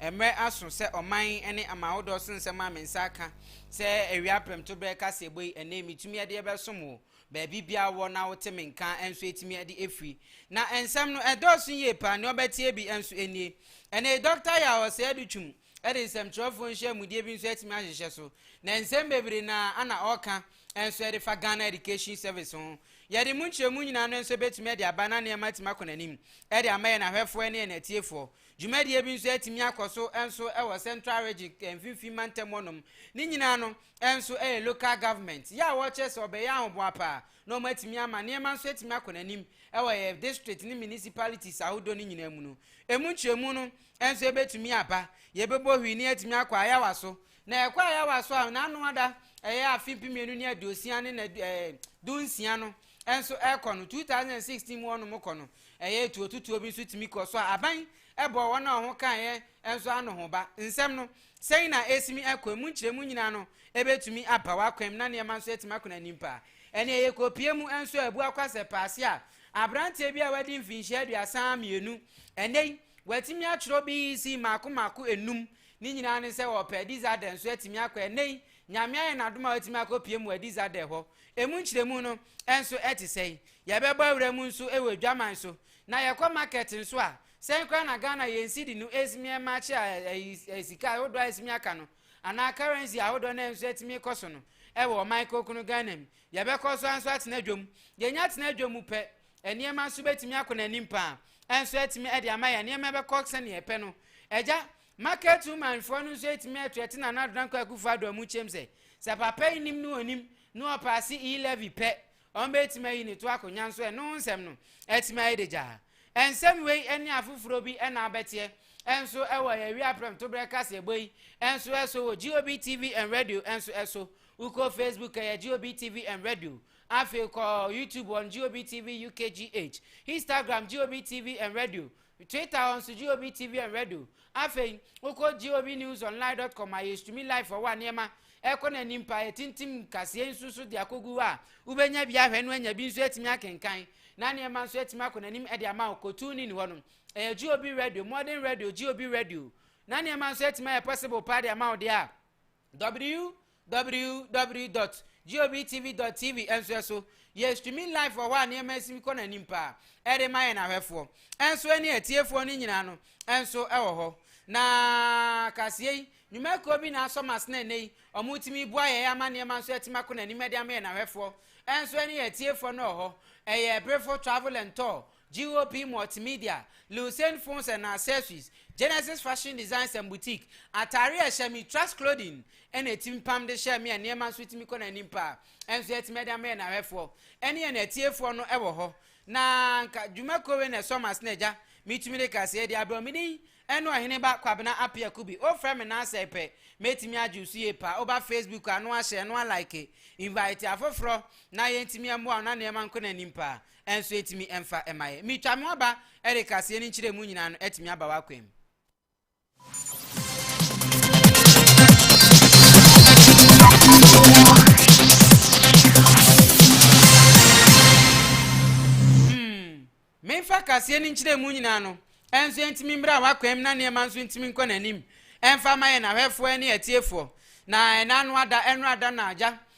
Mmere aso sɛ ɔman ne aman ahodoɔ so nsɛm a me nsa aka sɛ awia prɛmtoberɛ kaseɛbɔ yi ɛnnɛ yi metumi de bɛsom wo baabi biara wɔ na wote me nka nso ɛtumi de ɛfiri. Na nsɛm no ɛdɔɔso yie paa, nea ɔbɛteɛ bi nso ɛnie. Ɛnna yi Dɔkta Yaw Ɔsɛe-Adutwum de nsɛmtwerɛfoɔ nhyiamudeɛ bi nso atumi ahyehyɛ so, na nsɛm bebree no ara na ɔreka nso ɛde fa Ghana Education Service ho. Yɛde mu nkyerɛmu nyinaa no nso bɛtumi de aba na nneɛma atumi akɔ n'anim de ama yɛn ahwɛfoɔ ne yɛn atiefoɔ. Dwumadie bi nso atumi akɔ so nso wɔ Central Region, Mfimfini Mantam hɔnom. Ne nyinaa no nso yɛ local government yɛ a wɔkyerɛ sɛ wɔbɛyɛ ahoboa paa na wɔatumi ama nneɛma nso atumi akɔ n'anim wɔ yɛn district ne municipalities ahodoɔ no nyinaa mu no. Ɛmu nkyerɛmu no nso ɛbɛtumi aba. Yɛbɛbɔ hwii na yɛatumi akɔ ayawa so. Na yɛkɔ ayawa so a, n'ano ada ɛyɛ afe mpem mmienu ne aduosia ne na ɛɛ dunsia no nso ɛrekɔ no, 2016 mu wɔnom kɔ no, ɛyɛ atuotutuo bi nso tumi kɔ. So a aban bɔɔ wɔn a wɔn kaeɛ nso ano ho ba? Nsɛm no, sɛn na ɛresimi akɔ? Ɛmu nkyerɛmu nyinaa no ɛbɛtumi aba w'akwam na nneɛma nso atumi akɔ n'anim paa. Ɛnneɛ yɛkɔpie mu nso a, ɛbu akwa sɛ paase a aberanteɛ bi a wadi mfinhyia aduasa mmienu ɛnnɛ yi, watumi atwerɛ BEC mmaako mmaako nnum, ne nyinaa ne sɛ ɔpɛ, Dizadɛ nso atumi akɔ ɛnnɛ yi, Nyame ayɛ no adom a watumi akɔpue mu adi Zadeh hɔ. Emu nkyerɛmu no nso te sɛn? Yɛbɛbɔ awura mu nso wɔ adwaman so, na yɛkɔ market nso a, sɛn koraa na Ghana yɛn cedi no ɛtumi match ayi sika ahodoɔ a ɛtumi aka no anaa currency ahodoɔ no a nso ɛtumi kɔ so no wɔ ɔman kronkron Ghana mu? Yɛbɛkɔ so ara nso atena dwa mu. Yɛnya tena dwa mu pɛ, nneɛma nso bɛtumi akɔ n'anim paa nso atumi de ama yɛn nneɛma bɛkɔ sɛdeɛ yɛpɛ no. Agya, Market woman foɔ no nso ɛtumi ɛto ɛte Nana Adodan Kwaku foɔ adɔ mu kyɛm sɛ, sɛ papa yi nim ne ɔnim ne ɔpaase E levy pɛ, ɔmbɛtumi ayi ne to akɔ nyanso ɛno nsɛm no ɛtumi ayɛ de gyaa. Nsɛm wei ɛne afoforɔ bi ɛna abɛteɛ ɛnso ɛwɔ yɛn awia prɛm to berɛ kaseɛbɔ yi ɛnso ɛso wɔ GOB TV and Radio ɛnso ɛso. Wokɔ Facebook ɛyɛ GOB TV and Radio, afei kɔ YouTube wɔn GOB TV UKGH, Instagram GOB TV and Radio, Twitter hɔ nso GOB TV and Radio. Afei, wokɔ GOBnewsonline dot com a yɛtumi live wɔ hɔ a nneɛma ɛkɔ n'anim paa. Yɛtintim nkaseɛ nso so de akɔgu hɔ a wobɛnya bi ahwɛ no anya bi nso atumi akenkan na nneɛma nso atumi akɔ n'anim de ama wo. Kɔ TuneIn hɔ no, ɛyɛ GOB Radio, Modern Radio, GOB Radio na nneɛma nso atumi ayɛ possible paa de ama wo deɛ a. www dot GOBTV dot TV nso ɛso yɛ streaming live wɔ hɔ a nneɛma asimi kɔ n'anim paa ɛde ma yɛn ahwɛfoɔ ɛnso ɛne atiefoɔ no nyinaa no ɛnso ɛwɔ hɔ na kaseɛ yi nnwumakuo bi na asɔ mas na ɛnɛ yi wɔn tumi bua yɛn ama nneɛma nso ɛtumi akɔ n'anim ɛde ama yɛn ahwɛfoɔ ɛnso ɛne atiefoɔ no wɔ hɔ ɛyɛ ɛbrefo travel and tour GOP Multimedia, Lucene Phones and Accessories, Genesis Fashion Designs and Boutique, Atare a ɛhyɛ me, Trust Clothing, ɛna ɛtumi pam de hyɛ me a nneɛma nso tumi kɔ n'anim paa. Ɛnso yɛatumi ɛde ama yɛn ahwɛfoɔ ɛne yɛn atiefoɔ no ɛwɔ hɔ. Na nka dwuma kuo wei na ɛsɔ m'asene agya, metumi de kaseɛ de abrɛ wo. Me din ɛne Ɔhene ba Kwabena Appiah Kubi. Wofrɛ me naasɛ pɛ, mɛtumi agye wo so yie paa. Woba Facebook a, no a share, no a like, invite afoforɔ na yɛntumi ɛmmoa wo na nneɛma nkɔ n'anim paa. Ɛnso ɛtumi ɛmfa mmaeɛ. Metwa mo aba Eric aseɛ ne nkyerɛmu nyinaa no atumi aba w'akwan mu. Hmm. Memfa kaseɛ ne nkyerɛmu nyinaa no ɛnso ɛntumi mmra w'akwan mu na nneɛma nso ntumi nkɔ n'anim ɛmfa ma yɛn ahwɛfoɔ ne atiefoɔ na ɛna ano ada ɛno ada na agya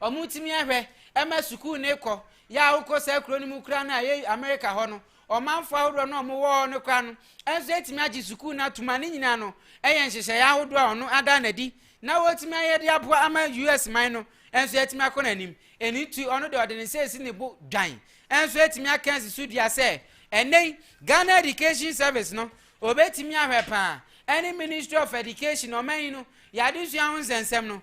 Wɔtumi ahwɛ ma sukuu no rekɔ yɛ a wokɔ saa kuro no mu koraa no a ɛyɛ Amerika hɔ no, ɔmanfoɔ ahodoɔ no a wɔwɔ hɔ no koraa no nso atumi agye sukuu no atom a ne nyinaa no yɛ nhyehyɛeɛ ahodoɔ a ɔno ada no adi na wɔtumi ayɛ de aboa ama US man no nso atumi akɔ n'anim. Ɛno nti ɔno deɛ ɔde ne nsa asi ne bo dwan nso atumi aka asi so dua sɛ ɛnnɛ yi Ghana Education Service no wɔbɛtumi ahwɛ paa ɛne Ministry of Education ɔman yi no yɛadesua ho nsɛnsɛm no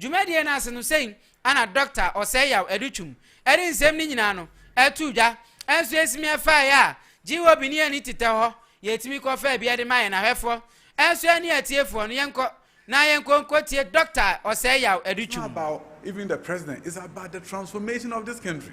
Dwumadie no ase no sei ana Dɔkta Osei-Yaw Adutwum de nsɛm no nyinaa no too dwa. Nso yɛsi me faeɛ a, GOB ne yɛnni tetɛ hɔ, yɛtumi kɔ faa bi de ma yɛn ahwɛfoɔ. Nso ɛne atiefoɔ no yɛnkɔ na yɛnkɔ nkɔtie Dɔkta Osei-Yaw Adutwum. It's not about even the president, it's about the transformation of this country.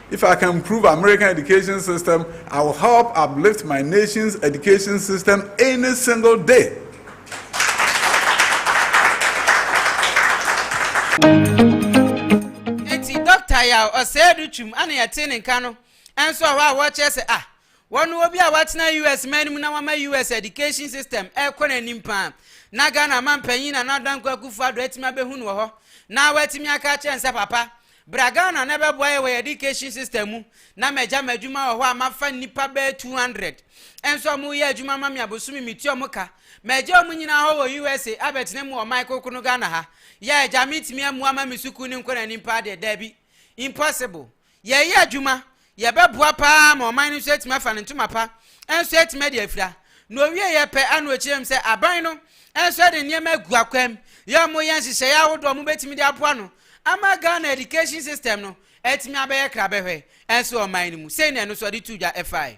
If I can improve American education system, I will help uplift my nation's education system any single day. Eti doctor ya ɔsɛɛ do twum ana yɛte ne nka no ɛnso ɔhɔ a wɔkyerɛ sɛ ah wɔn obi a watena US man no mu na wɔama US education system ɛrekɔ n'anim paa na Ghana manpanyin na n'adanko akufo ado atumi abɛhu no wɔ hɔ na watumi aka akyerɛ nsa papa Bra Ghana na bɛboa yɛ wɔ yɛ education system mu na magya m'adwuma wɔ hɔ a mafa nnipa bɛyɛ 200 nso a wɔreyɛ adwuma ma me a bosome metua wɔn ka. Magya wɔn nyinaa hɔ wɔ USA abɛtena mu wɔ ɔman kronkron Ghana ha. Yɛ agya metumi ammua ma me sukuu no nkɔ n'anim paa deɛ? Daabi. Impossible. Yɛreyɛ adwuma Yɛbɛboa paa ma ɔman no nso atumi afa ne ntoma pa nso atumi adi afira. Na ɔwieɛ pɛ a na ɔkyerɛ mu sɛ aban no nso de nneɛma agu akwam yɛ a wɔyɛ nhyehyɛeɛ ahodoɔ a wɔbɛtumi de aboa no ama Ghana education system no atumi abɛyɛ krabɛhwɛ nso wɔ ɔman no mu sei na ɛno nso ɔde too dwa faeɛ.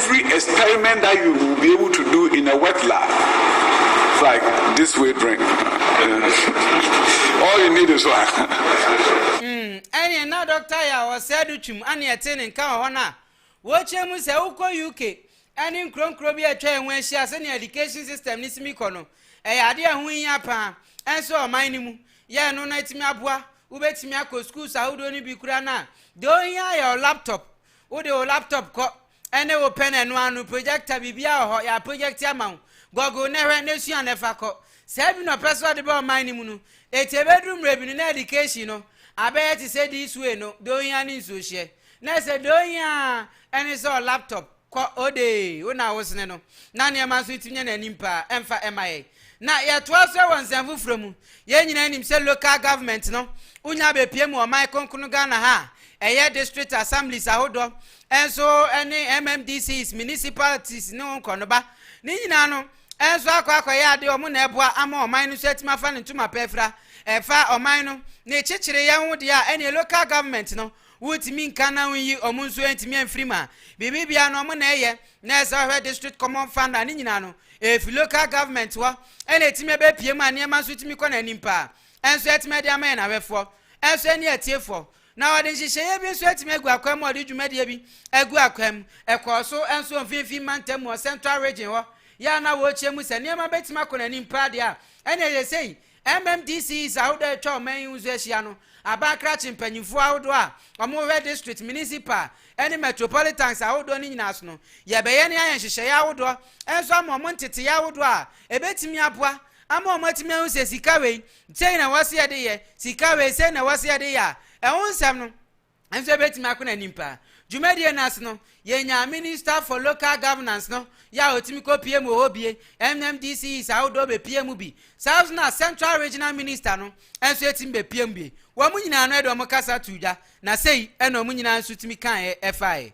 Every experiment that you will be able to do in a wet lab, like this way drink, all you need is water. Mm, ɛne na dɔkta yɛ a wɔsɛɛ do twum ane ɛte ne nka wɔ hɔ no a wɔkyerɛ mu sɛ wokɔ UK ɛne nkuronkuro bi a atwa yɛn ho ahyia sɛnea education system ne simi kɔ no ɛyɛ ade a ɛho hia paa ɛnso ɔman no mu yɛ ɛno no atumi aboa wobɛtumi akɔ schools ahodoɔ no bi kura no a deɛ ɔhia yɛ laptop Wode wo laptop kɔ, ɛne wo pɛ na ɛno ara no, projector, biribiara wɔ hɔ, yɛaprojɛkte ama wo. Gɔgol na hwɛ, na sua na fa kɔ. Saa bi na ɔpɛ so ɔde ba ɔman no mu no. Enti ɛbɛduru mmerɛ bi no, na ɛdikehyi no abɛyɛ te sɛ dis wei no, deɛ ohia ne nsuohyeɛ. Na ɛsɛ deɛ ohia ara ɛne sɛ ɔlaptop, kɔ, odee, wo na wosene no. Na nneɛma nso tumi nya n'anim paa, ɛmfa ɛma yɛn. Na yɛtoa so wɔ nsɛm foforɔ mu. Yɛn nyinaa nim sɛ local government no wonya bɛpue mu ɔman kronkron Ghana ha a, ɛyɛ district assemblies ahodoɔ nso ne MMDCs, municipalities ne wo nkorɔnoba. Ne nyinaa no nso akɔ akɔyɛ adeɛ wɔn na ɛboa ama ɔman no nso atumi afa ne ntoma pɛ afira. Ɛfa ɔman no ne kyekyereyɛ ho deɛ a ɛneɛ local government no Wontumi nka na wonyi wɔn nso antumi amfiri mu a, biribi biara no wɔn na ɛyɛ. Na ɛsɛ wɔhwɛ district common fund a ne nyinaa no ɛfi local government hɔ ɛna ɛtumi ɛbɛpue mu a nneɛma nso tumi kɔ n'anim paa. Ɛnso ɛtumi ɛde ama yɛn ahwɛfoɔ ɛnso ɛne atiefoɔ. Na wɔde nhyehyɛeɛ bi nso atumi agu akwan mu a wɔde dwumadie bi agu akwan mu. Ɛkɔɔ so ɛnso wɔ mfinfin mantam mu wɔ central region hɔ. Yɛ a na wɔrekyia mu sɛ nneɛma bɛtumi akɔ n'anim paa deɛ a ɛne ɛyɛ sei. MMDC is ahodoɔ a atwa ɔman yi ho nso ahyia no aba akrakye mpanyimfoɔ ahodoɔ a wɔhwɛ district, municipal ne metropolitans ahodoɔ no nyinaa so no. Yɛbɛyɛ ne ayɛ nhyehyɛeɛ ahodoɔ nso ama wɔn nteteeɛ ahodoɔ a ɛbɛtumi aboa ama wɔn atumi ahu sɛ sika wei, sei na ɛwɔ sɛ yɛde yɛ, sika wei, sei na ɛwɔ sɛ yɛde yɛ a ɛho nsɛm no. nso ebetumi akɔ n'anim paa. Dwumadie no ase no, yɛnyaa Minister for Local Governance no yɛ a ɔtumi kɔ pie mu wɔ hɔ bie, MMDCEs ahodoɔ bɛpie mu bi, saa nso na Central Regional Minister no nso ɛtumi bɛpie mu bie. Wɔn nyinaa no ɛde wɔn kasa too dwa, na sei na wɔn nyinaa nso tumi kaeɛ ɛfaeɛ.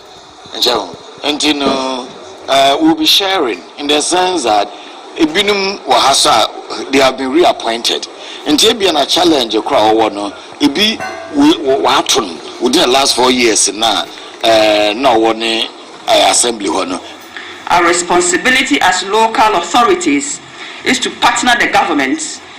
Nkyɛn o, nti no we'll be sharing in the sense that ebinom wɔ ha so a they have been reappointed, nti ebia na challenge koro a wɔwɔ no ebi wɔato no within the last four years na na ɔwɔ ne assembly hɔ no. Our responsibility as local authorities is to partner the government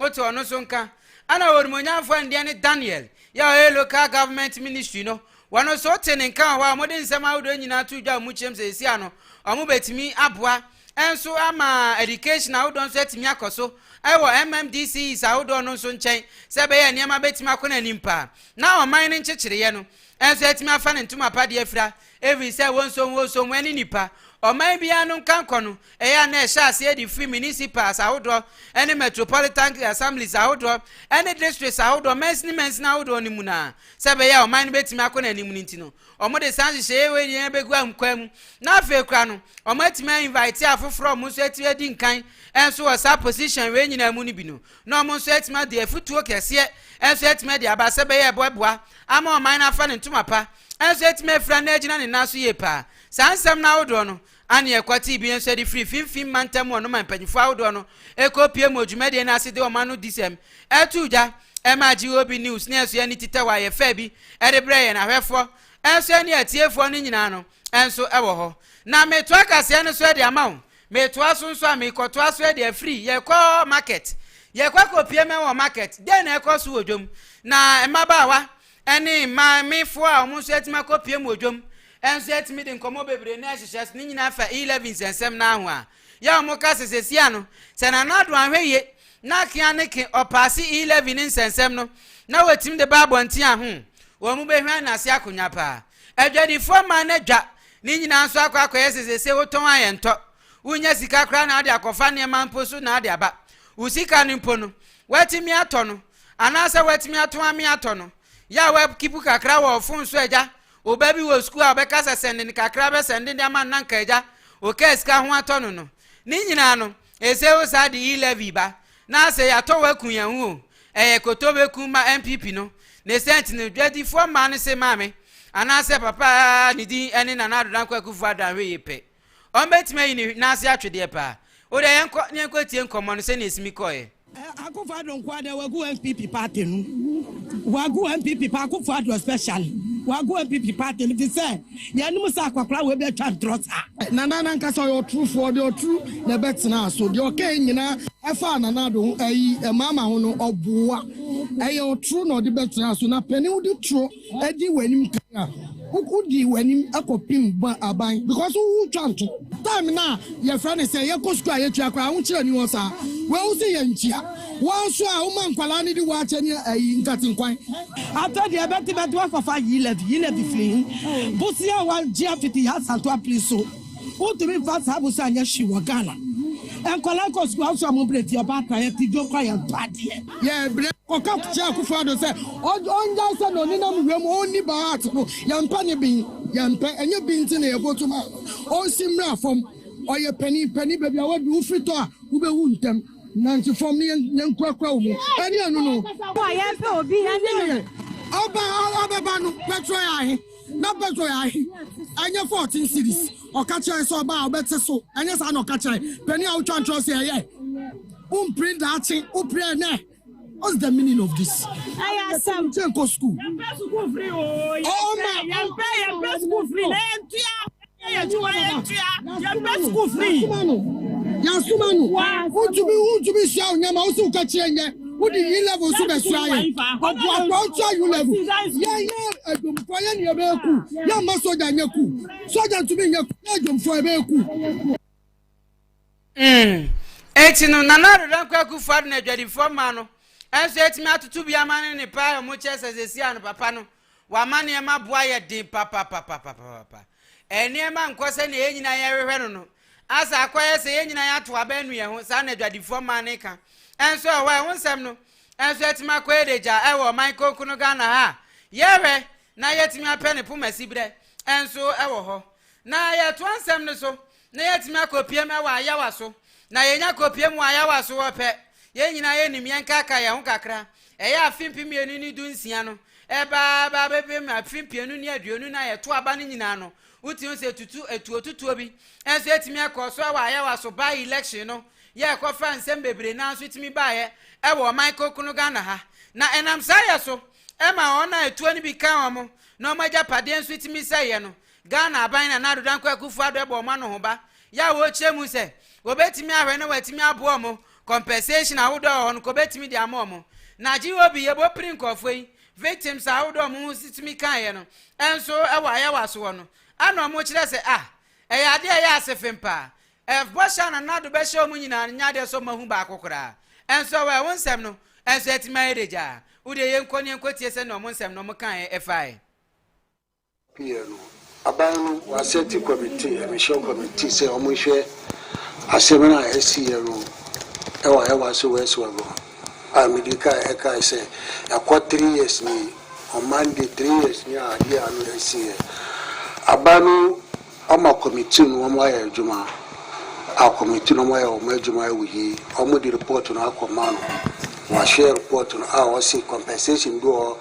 Otu ɔno nso nka. Ɛna Onimuonyamfoɔ Indiani Daniel yɛ ɔyɛ Local Government Ministry no, wɔn nso wote ne nka wɔ hɔ a wɔde nsɛm ahodoɔ nyinaa to dwa wɔ mu kyerɛm sɛ seesei ano wɔn bɛtumi aboa nso ama education ahodoɔ nso atumi akɔ so wɔ MMDCEs ahodoɔ no nso nkyɛn sɛ ɛbɛyɛ nneɛma bɛtumi akɔ no anim paa na ɔman no nkyekyereeɛ no nso atumi afa ne ntoma pa de afira Efisɛ wonsonwosow mo ani nnipa. Ɔman biara no nkankɔ no, ɛyɛ a na ɛhyɛ aseɛ de firi municipals ahodoɔ ne metropolitan assemblies ahodoɔ ne districts ahodoɔ mansini mansini ahodoɔ no mu no ara. Sɛ ɛbɛyɛ a ɔman no bɛtumi akɔ n'anim no nti no, wɔde saa nhyehyɛeɛ wei nyinaa bɛgu ahunkwaa mu. Na afei koraa no, wɔatumi a invite afoforɔ a wɔn nso atumi adi nkan nso wɔ saa position wei nyinaa mu no bi no, na wɔn nso atumi adi afutuo kɛseɛ nso atumi adi aba sɛ bɛyɛ ɛbɔ aboa ama ɔman no afa ne ntoma pa nso atumi afira na agyina ne nan so yie paa. Saa nsɛm no ahodoɔ no ane ɛkwatee bi nso de firi finfin mantam wɔ no ma mpanimfoɔ ahodoɔ no kɔ pie mu wɔ dwumadie no ase de wɔn ano di sɛm too gya maa GOB News ne ɛso ani titɛw a yɛfɛ bi de brɛɛ yɛn ahwɛfoɔ nso ne atiefoɔ no nyinaa no nso wɔ hɔ. Na metoa kaseɛ no so de ama wo Metoa so nso a, mekɔtoa so de afiri. Yɛkɔ market. Yɛkɔ akɔpue mmɛn wɔ market. Dɛn na ɛkɔ so wɔ dwam? Na mmabaawa ne maamefoɔ a wɔn nso atumi akɔpue mu wɔ dwam nso atumi de nkɔmmɔ bebree na ɛhyehyɛ so. Ne nyinaa fa E. Levins nsɛm no ara ho a, yɛ a wɔka sɛ sesia no, sɛ Nana Addo anhwɛ yie na kea ne ke ɔpaase E. Levin ne nsɛnsɛm no, na watumi de ba abɔnten a, ho, wɔn bɛhwane no ase akonwa paa. Adwadifoɔ ma no dwa. Ne nyinaa nso akɔ akɔyɛ sɛ seesei wotɔn a ɛntɔ. Wonnya sika koraa na ade akɔfa nneɛma mpo so na ade aba. Wo sika no mpo no, woatumi atɔ no anaasɛ woatumi atɔn ame atɔ no. Yɛ a woakipu kakra wɔ fon so agya, wo ba bi wɔ sukuu a ɔbɛka sɛ sɛnde no kakra bɛsɛnde de ama no na anka agya wokaa sika ho atɔ no no. Ne nyinaa no, ɛsɛ wo saa de e-levy ba. Na sɛ yɛatɔ wɔ aku yɛn ho o, ɛyɛ koto bɛku ma NPP no, ne sɛnt no dwadifoɔ mmaa no se maame anaa sɛ papa a ne din ne Nana Addo Dankwa Akuffo Addo Anhwee pɛ, ɔno bɛtumi ayi ne nan ase atwe deɛ paa. O deɛ yɛnkɔ na yɛnkɔ tie nkɔmmɔ no sɛdeɛ ɛsi mi kɔeɛ. Akuffo Addo nko ara deɛ wagu NPP party no, wagu NPP pa, Akuffo Addo especially, wagu NPP party no, efisɛ. Yɛnnom sɛ akwakoraa wei bɛ twa ntorɔ saa. Nana no ankasa ɔyɛ ɔtorofoɔ deɛ ɔtoro na ɛbɛ tenaa so deɛ ɔkaeɛ nyinaa ɛfaa Nana Addo ho ayi maama ho no ɔboa ɛyɛ ɔtoro na ɔde bɛ tenaa so na panin wode toro adi w'anim kan a wo di w'anim ɛkɔ pim ba aban because wo wo twa nto. Time no a yɛfrɛ no sɛ yɛkɔ sukuu a yɛtua koraa ahokyerɛ ni hɔ saa wei wo se yɛnkyia. Woa nso a woma nkwadaa no di waakye ne ayi nkate nkwan. Afei deɛ bɛte bɛte wakɔfa yi lɛbi yi lɛbi firi yi bosea a wagye afiti yi asanto apiri so wotumi nfa saa bosea nyɛ hwee wɔ Ghana nkwadaa kɔ sukuu aso a mo brɛ ti ɔbaatan yɛ ti dwo kora yɛ ntɔ adeɛ yɛ brɛ kɔka kyerɛ akufo ado sɛ ɔngyae sɛ na ɔnenam wura mu ɔnni baa art no yɛ mpɛ ne bin yɛ mpɛ ɛnyɛ bin ti na yɛ voto ma ɔnsi mmra fam ɔyɛ panin panin baabi a wadu wofiri tɔ a wobɛwu ntɛm. Nante fam ne yɛn nkurakura wo mu. Ɛne ɛno no. Wo a yɛmpɛ obi ne no. Yɛ ɔba ɔbɛba no pɛtrɔ yɛ ahe na pɛtrɔ yɛ ahe ɛnyɛ fourteen cities ɔka kyerɛ sɛ ɔba a ɔbɛte so ɛnyɛ saa na ɔka kyerɛ panyin a wotwa ntorɔ sɛ ɛyɛ wompere daakye wopere ɛnɛ What's the meaning of this? I asked them. Take school. Your school free. Oh, my. Your school free. yasoma no wontumi wontumi sua wo nyama wosi woka kyerɛ nyɛ wode yi level nso bɛsua yɛ ɔboakoa wotua yu level yɛyɛ adwomfoɔ yɛ ne yɛbɛyɛ ku yɛmma sogya nyɛ ku sogya ntumi nyɛ ku yɛ adwomfoɔ yɛbɛyɛ ku Mm. Enti no, Nana Addo Dankwa Akufo Addo na adwadifoɔ mmaa no nso atumi atoto bi ama ne ne paa a wɔkyerɛ sɛ sɛsi a no papa no wama nneɛma boa yɛ den papapapapapapa. Nneɛma nkɔ sɛ na yɛn nyinaa yɛhwehwɛ no no. Asa akɔyɛ sɛ yɛn nyinaa yɛato aba anu yɛn ho, saa na adwadifoɔ mmaa no ka. Nso ɛwɔ hɔ a, ɛho nsɛm no nso atumi akɔ yɛ dagya ɛwɔ ɔman konkono Ghana ha a yɛhwɛ na yɛatumi apɛ ne pomasiberɛ nso ɛwɔ hɔ. Na yɛtoa nsɛm no so na yɛatumi akɔpiem wɔ ayawa so, na yɛnya kɔpiem wɔ ayawa so hɔ pɛ, yɛn nyinaa yɛnim yɛn ka ka yɛn ho kakra. Ɛyɛ afe mpem mmienu ne du nsia no, ɛreba aba abɛpem afe mpienu ne aduonu no a yɛto aba no nyinaa no, wotumi hu sɛ tutu atuotutuo bi nso atumi akɔ so wɔ ayawa so by election no, yɛrekɔfa nsɛm bebree no ara nso tumi baeɛ wɔ ɔman kronkron Ghana ha, na ɛnam saa yɛ so ma wɔn a atuo no bi ka wɔn na wɔn agyapadeɛ nso tumi sɛeɛ no, Ghana aban na Nado Dankwa Akufo-Addo bɔ wɔn anohoba yɛ a wɔrekyerɛ mu sɛ wɔbɛtumi ahwɛ na wɔatumi aboa wɔn, compensation ahodoɔ a ɛwɔ hɔ no nka wɔbɛtumi de ama wɔn. Na GOB yɛbɔ piri nkurɔfoɔ yi, victims ahodoɔ a wɔn ho tumi kaeɛ no nso wɔ ayɛwaso hɔ no ɛna wɔkyerɛ sɛ ah, ɛyɛ adeɛ a ɛyɛ asefem paa. Ɛf, Bɔhyɛ a na Nado bɛhyɛ wɔn nyinaa no nyɛ adeɛ sɛ wɔahu baako koraa. Nso ɛwɔ ɛwo nsɛm no nso atumi ayɛ dagyaa. Wo deɛ yɛnkɔ na yɛnkɔtie sɛdeɛ wɔn nsɛm no wɔkaeɛ faeɛ. pii no, aban no wɔasɛte kɔmmittee, adehyew kɔmmittee, sɛ wɔnhwɛ asɛm no a asiiɛ no wɔ Hewa so West hɔ no, a mede kae ɛkae sɛ ɛkɔ three years nie, on Monday three years nie a adeɛ ano asiiɛ. Aban no Ɔma kɔmiti no wɔn ayɛ adwuma a kɔmiti no wɔn ayɛ wɔn adwuma awi yi wɔn de report no akɔ ma no wa share report no a ɔse compensation bi wɔ hɔ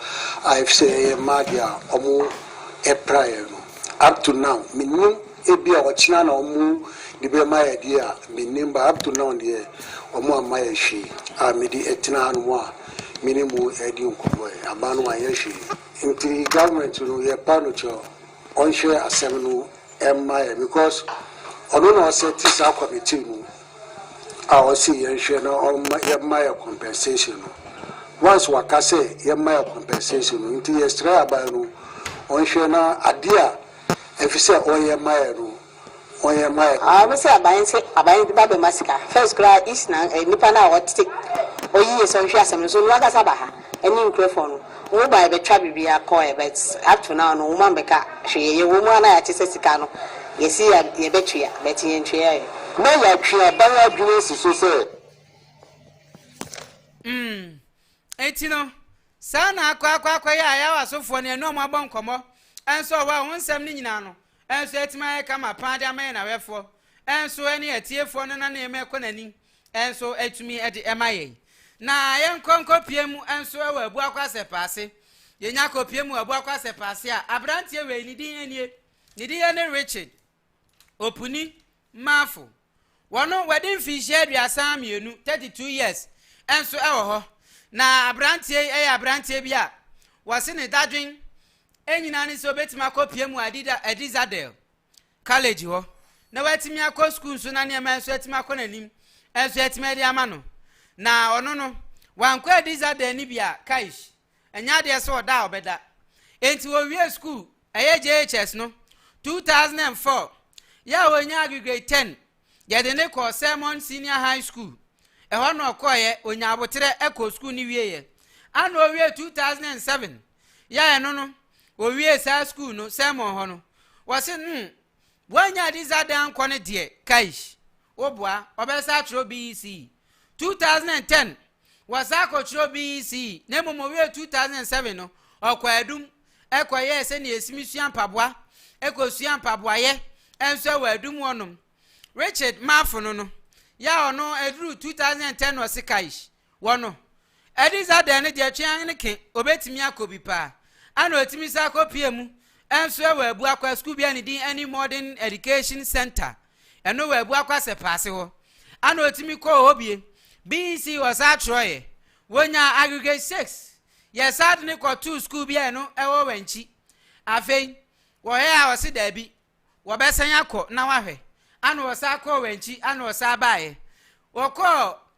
a efisɛ ɛyɛ mmaa deɛ a wɔn ɛpraeɛ no up to now menim ebi a ɔkyena na wɔn de bɛ ma yɛ deɛ a menim ba up to now deɛ wɔn amma yɛ hwee a mede ɛtena ha no mu a mene mu ɛdi nkɔmɔ yɛ aban no wɔn anyɛ hwee nti government no yɛ pa no kyɛw. Ɔnhwɛ asɛm no mma yɛn because ɔno na ɔsɛte saa committee no a ɔse yɛnhwɛ na ɔmma yɛmma yɛ compensation no. Once waka sɛ yɛmma yɛ compensation no nti yɛsrɛ aban no ɔnhwɛ na adeɛ a ɛfisɛ ɔyɛ ma yɛn no wɔyɛ mma yɛ. Aa me se aban se aban de ba bɛma sika first koraa east na nipa no a ɔte ɔyiye sɛ ɔhwɛ asɛm no so no ankasa ba ha ɛne nkurɔfoɔ no ɔmo baɛ bɛtwa biribiaa kɔɛ but up to now no ɔmo ammɛka hwee yɛyɛ wɔ mu a na yɛate sɛ sika no yɛse yɛbɛtua but yɛntueɛ. Na yɛatwe aban adwene asi so sɛ. Mm. Enti no, saa na akɔ akɔ akɔyɛ a yɛawo asɔfoɔ no yɛne wɔn abɔ nkɔmmɔ nso wɔ hɔ a wɔn nsɛm no nyinaa no, Nso atumi ayɛ kama paa de ama yɛn awɛfoɔ, nso ɛne atiefoɔ no na nneɛma ɛkɔ n'anim, nso atumi de ɛma yɛn. Na yɛnkɔ nkɔpie mu nso wɔ abu akwasɛpɛ ase. Yɛnya kɔpie mu wɔ abu akwasɛpɛ ase a, abranteɛ wei ne din nie, ne din ne Richard Opuni Marfo. Wɔn no, wɔadi mfinhyia aduasa mmienu, 32 years, nso wɔ hɔ. Na aberanteɛ yi yɛ aberanteɛ bi a wɔse ne dadwen nyinaa ne sɛ obɛtumi akɔpia mu Adi Zadel College hɔ na watumi akɔ sukuu nso na nneɛma nso atumi akɔ n'anim nso atumi adi ama no. Na ɔno no, wankɔ Adi Zadel no bi a, kaish. Ɛnyɛ adeɛ sɛ ɔda a ɔbɛda. Enti ɔwiee sukuu, ɛyɛ JHS no, 2004. Yɛ a ɔnyaa age grade ten, yɛde no kɔɔ Sermon Senior High School. Ɛhɔ na ɔkɔeɛ, ɔnyaa aboterɛ kɔɔ sukuu no wieeɛ. Ana ɔwiee 2007. Yɛ a ɛno no, ɔwiee saa sukuu no, Sermon hɔ no. Wɔse no, woannya Adiza da ankɔ no deɛ, kaish, woboa, ɔbɛsa atwerɛ BECE. 2010, Wɔ saa akɔkyerɛw BECE, na mmom ɔwiee 2007 no, ɔkɔɔ adum kɔyɛɛ sɛnea esimi sua mpaboa, kosuaa mpaboayɛ nso wɔ adum hɔnom. Richard Marfono no, yɛ a ɔno eduruu 2010 no ɔse Kaish, wɔ no, Adi dza dɛn no deɛ twe ann ke obetumi akɔ bi paa, ana otumi san kɔpie mu nso wɔ Abuakwa sukuu bi a ne din ɛne Modern Education Centre. ɛno wɔabu akɔ asɛpaase hɔ ana ɔtumi kɔɔ hɔ bie BEC ɔsaa twerɛeɛ wɔnyaa aggregate 6 yɛsaa de ne kɔtoo sukuu bi a ɛno ɛwɔ wankyi afei wɔhwɛ a ɔse daabi wɔbɛsan akɔ na wahwɛ ana ɔsaa kɔɔ wankyi ana ɔsaa baeɛ wɔkɔɔ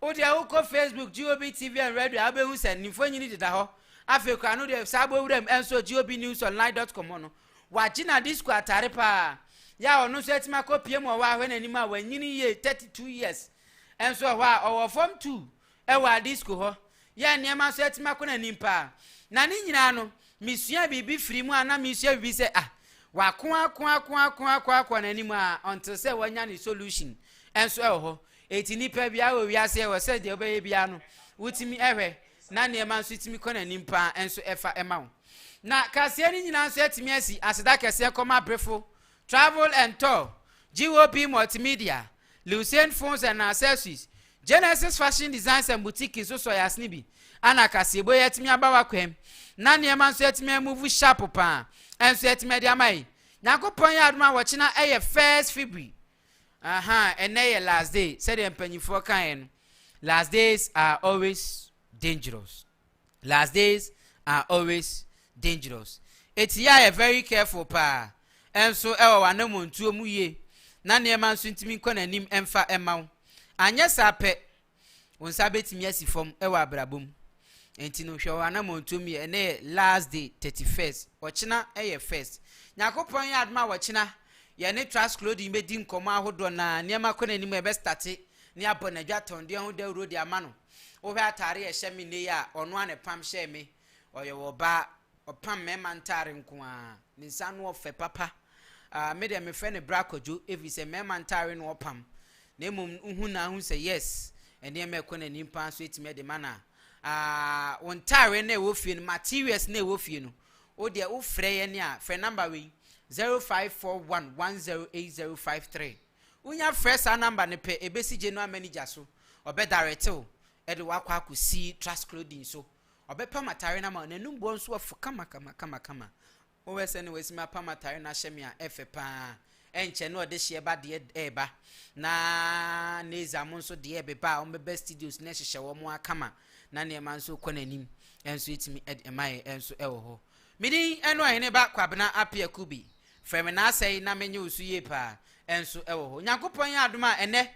Wo deɛ wokɔ Facebook GOB TV and Radio a wobɛhu sɛ ne mfonyin deda hɔ. Afei koraa no deɛ saa bɔ wuram nso GOB News Online dot com hɔ no, wagye na disco atare paa. Yɛ a ɔno nso atumi akɔpue mu wɔ hɔ a hwɛ n'anim a wanyini yie 32 years nso wɔ hɔ a ɔwɔ fam tu wɔ a disco hɔ. Yɛ nneɛma nso atumi akɔ n'anim paa. Na ne nyinaa no, mesua biribi firi mu a na mesua biribi sɛ ah, wako ako ako ako ako akɔ n'anim a until sɛ wanya ne solution nso wɔ hɔ. Enti nnipa biara wɔ wiase ɛwɔ sɛ deɛ wobɛyɛ biara no wotumi ɛhwɛ na nneɛma nso tumi kɔ n'anim paa ɛnso ɛfa ɛma wo. Na kaseɛ no nyinaa nso atumi asi aseda kɛseɛ kɔma Brefo Travel and Tour, GOP Multimedia, Lucene Phones and Accessories, Genesis Fashion Designs and Boutique nso sɔe asene bi ana kaseɛbɔ yi atumi aba w'akwam na nneɛma nso atumi amuvu sharp paa ɛnso atumi ɛde ama yi. Nyankopɔn yɛ adom a wɔkyena ɛyɛ first February Ahaa ɛnɛ yɛ last day sɛdeɛ mpanyinfoɔ kaeɛ no last days are always dangerous last days are always dangerous eti yɛ a yɛ very careful paa ɛnso ɛwɔ w'anamɔntuo mu yie na nneɛma nso ntumi nkɔ n'anim ɛmfa ɛma wo anyɛ saa pɛ Wo nsa betumi asi fam wɔ abrabɔ mu. Enti no, hwɛ w'anammɔntuo mu yɛ. Ɛnɛ yɛ last day, thirty first. Ɔkyena yɛ first. Nyankopɔn yɛ adom a ɔkyena yɛne Trask Clothing bɛdi nkɔmmɔ ahodoɔ na nneɛma kɔ n'anim a ɛbɛstate ne abɔ n'adwa tɔndeɛ ho dawuro de ama no. Wohwɛ ataare a ɛhyɛ me nnɛ yi a, ɔno a na ɛpam hyɛɛ me. Ɔyɛ ɔbaa Ɔpam mmarima ntare nko ara. Ne nsa ano ɔfɛ papa. Ah, me deɛ mefrɛ no Bra Kwadwo ɛfiri sɛ mmarima ntare na ɔpam. Na mmom wohu no ara hu sɛ yes, nneɛma a ɛkɔ n'anim paa nso ɛtumi de ma no a. Ah, wo ntare no a ɛwɔ fie no, materials no a ɛwɔ fie no, wo deɛ wofrɛ yɛn a, frɛ number wei, 0541108053. Wonya frɛ saa number no pɛ, ɛbɛsi General Manager so, ɔbɛdirect wo de wo akɔ akɔsi Trust Clothing so. Ɔbɛpam atare no ama wo, n'anom boɔ nso afu kamakamakama. Wohwɛ sɛdeɛ watumi apam atare no ahyɛ me a, ɛfɛ pa ara. Ɛnkyɛ na ɔde hyeɛ ba deɛ reba, na Neiza mo nso deɛ rebeba a wɔbɛba studios no ahyehyɛ wɔn ara kama, na nneɛma nso rekɔ n'anim nso ɛtumi de ma yɛn nso wɔ hɔ. Me din ne Ɔhene Ba Kwabena Appiah Kubi. Frɛ me Naasɛe na menye wo so yie pa ara nso wɔ hɔ. Onyankopɔn yɛ adom a ɛnnɛ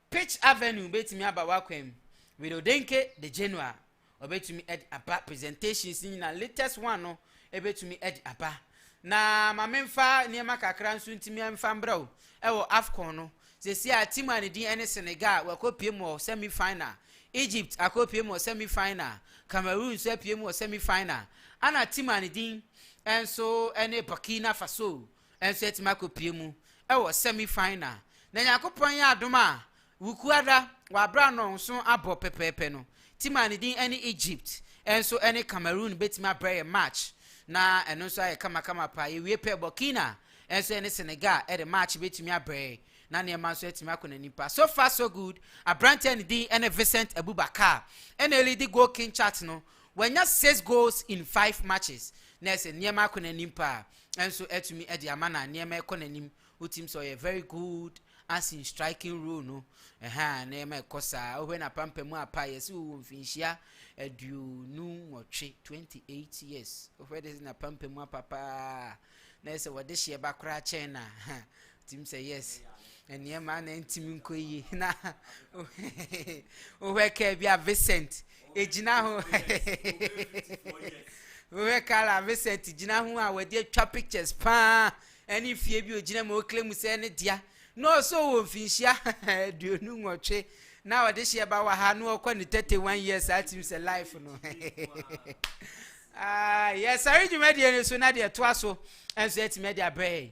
Pitch Avenue betumi aba w'akwan mu, Widodenke de Genoa obetumi de aba, presentations no nyinaa, latest one no ebetumi de aba. Na ma memfa nneɛma kakra nso ntumi mfa mbrɛ wo ɛwɔ AFCON no. Sɛsi a team a ne din ɛne Senegal wakɔpie mu wɔ semi final, Egypt akɔpie mu wɔ semi final, Cameroon nso apue mu wɔ semi final, ɛna team a ne din ɛnso ɛne Burkina Faso nso atumi akɔpue mu wɔ semi final. Na Nyankopɔn yɛ adom a Wukuada w'abrɛ anɔnso abɔ pɛpɛɛpɛ no team a ne din ɛne Egypt nso ɛne Cameroon bɛtumi abrɛ yɛn match na ɛno nso ayɛ kamakama paa. Yɛwie pɛ Burkina nso ɛne Senegal ɛde match bɛtumi abrɛ yɛn na nneɛma nso atumi akɔ n'anim paa. So far so good, aberante a ne din ɛne Vincent Aboubakar ɛna ɛlidi goal king chart no, wanya six goals in five matches na ɛsɛ nneɛma akɔ n'anim paa. nso atumi de ama na nneɛma ɛkɔ n'anim wotim sɛ ɔyɛ very good as in striking role no ɛha nneɛma ɛkɔ saa wohwɛ na pampa mu apa yɛsi wɔ mfinhyia aduonu nwɔtwe 28 years wohwɛ de na pampa mu apa paa na ɛsɛ wɔde hyeɛ ba koraa kyɛn na Tim sɛ yes. Nneɛma na ntimi nkɔ yie. Na wohwɛ kaa bi a Vincent gyina ho. Wohwɛ kaa a Vincent gyina ho a wɔde atwa pictures paa ɛne fie bi ogyina mu okle mu sɛ ne dea. Na ɔsɔ wɔ mfinhyia aduonu nwɔtwe na ɔde hyɛ ba wɔ ha na ɔkɔ ne 31 years saa tim sɛ life no. Ah, yɛsare dwumadie no so na deɛ ɛtoa so nso atumi de abrɛ yɛn.